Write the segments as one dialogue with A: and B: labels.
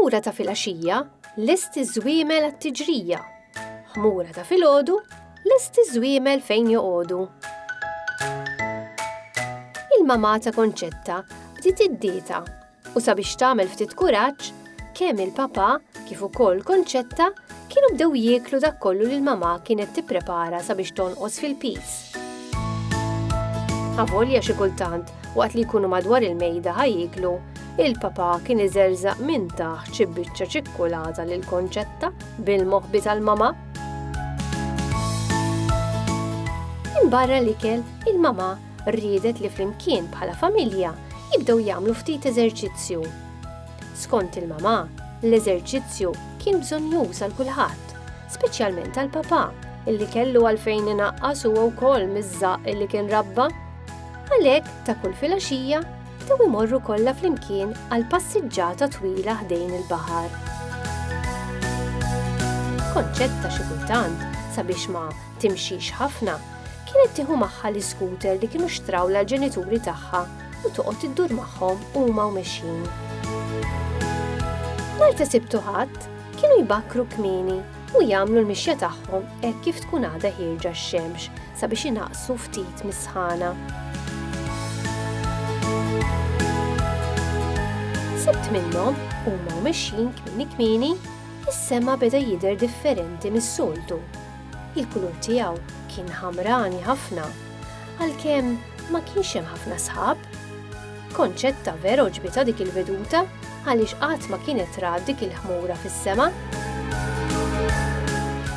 A: ħmura ta' filgħaxija lesti żwiemel għat-tiġrija. Ħmura ta' filgħodu lesti żwiemel fejn joqogħdu. Il-mamata konċetta bdiet id-dieta U sabiex tagħmel ftit kuraġġ, kemm il-papà kif ukoll Konċetta kienu bdew jieklu dak kollu li l-mamà kienet tipprepara sabiex tonqos fil-piż. Avolja xi kultant, waqt li jkunu madwar il-mejda ħa jieklu, il-papà kien iżerżaq minn taħt xi biċċa ċikkulata lil Konċetta bil-moħbi tal-mamà. Minn barra l-ikel, il-mamà riedet li flimkien bħala familja jibdew jagħmlu ftit eżerċizzju. Skont il-mamà, l-eżerċizzju kien bżonnjuż għal kulħadd, speċjalment għal papà illi kellu għalfejn inaqqas huwa wkoll miż-żaq illi kien rabba. Għalhekk ta' kull filgħaxija bdew imorru kollha flimkien għal passiġġata twila ħdejn il-baħar. Konċett ta' xi kultant sabiex ma timxix ħafna, kienet tieħu magħha l-iskuter li kienu xtraw l-ġenituri tagħha u toqgħod iddur magħhom huma u mexjin. Nhar ta' sibtu ħadd kienu jbakkru kmini u jagħmlu l-mixja tagħhom hekk kif tkun għadha ħirġa x-xemx sabiex inaqsu ftit mis-sħana. Sibt minnhom huma mexjin kmini kmini is-sema beda jidher differenti mis-soltu Il-kulur tiegħu kien ħamrani ħafna, għalkemm ma kienx hemm ħafna sħab. Concetta vera għoġbitha dik il-veduta għaliex qatt ma kienet rat dik il-ħmura fis-sema.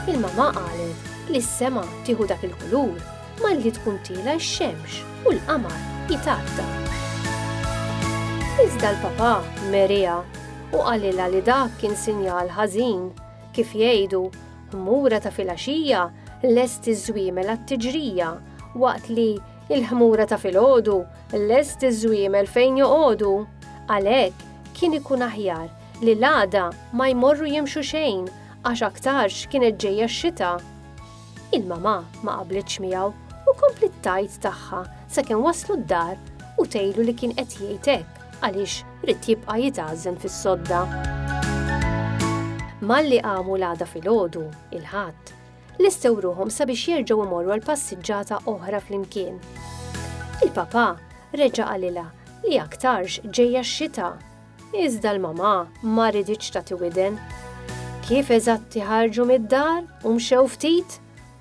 A: Il-mamà qalet li s-sema tieħu dak il-kulur malli tkun tiela' x-xemx u l-qamar jitgħatta. Iżda l-papà meriha u qalilha li dak kien sinjal ħażin Kif jgħidu, ħmura ta' filgħaxija lest iż-żwiemel għat-tiġrija, waqt li il-ħmura ta' filgħodu lest iż-żwiemel fejn joqogħdu. Għalhekk, kien ikun aħjar li l-għada ma jmorru jimxu xejn għax aktarx kienet ġejja x-xita. Il-mamà ma qablitx miegħu u kompliet tgħid tagħha sakemm waslu d-dar u tgħidlu li kien qed jgħid hekk għaliex ried jibqa' jitgħażżen fis-sodda. Malli qamu l-għada filgħodu, il-Ħadd, lestew ruħhom sabiex jerġgħu imorru għal passiġġata oħra flimkien. Il-papà reġa' qalilha li aktarx ġejja x-xita Iżda l-mamà ma riditx tagħti widen. Kif eżatti ħarġu mid-dar u mxew ftit,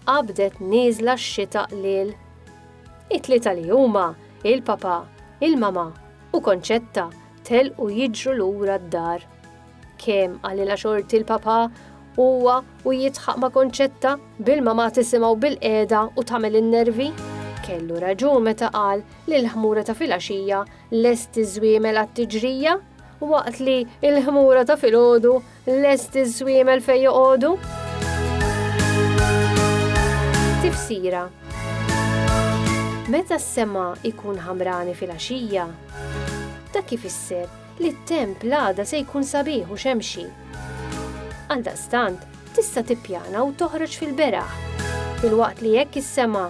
A: qabdet nieżla x-xita qliel. It-tlieta li huma, il-papà, il-mamà u Konċetta telqu jiġru lura d-dar. Kemm qalilha xorti l-papà huwa u jidħaq ma' Konċetta bil-mamà tisimgħu bilqiegħda u tagħmel in-nervi. Kellu raġun meta qal li l-ħmura ta' filgħaxija lest iż-żwiemel għat-tiġrija, waqt li l-ħmura ta' filgħodu lest iż-żwiemel fejn joqogħdu. Tifsira Meta s-sema ikun ħamrani fil-għaxija, ta' kif isser li t-temp l-għada se jkun sabiħ u xemxi. Għaldaqstant, tista' tippjana u toħroġ fil-beraħ. Filwaqt li jekk is-sema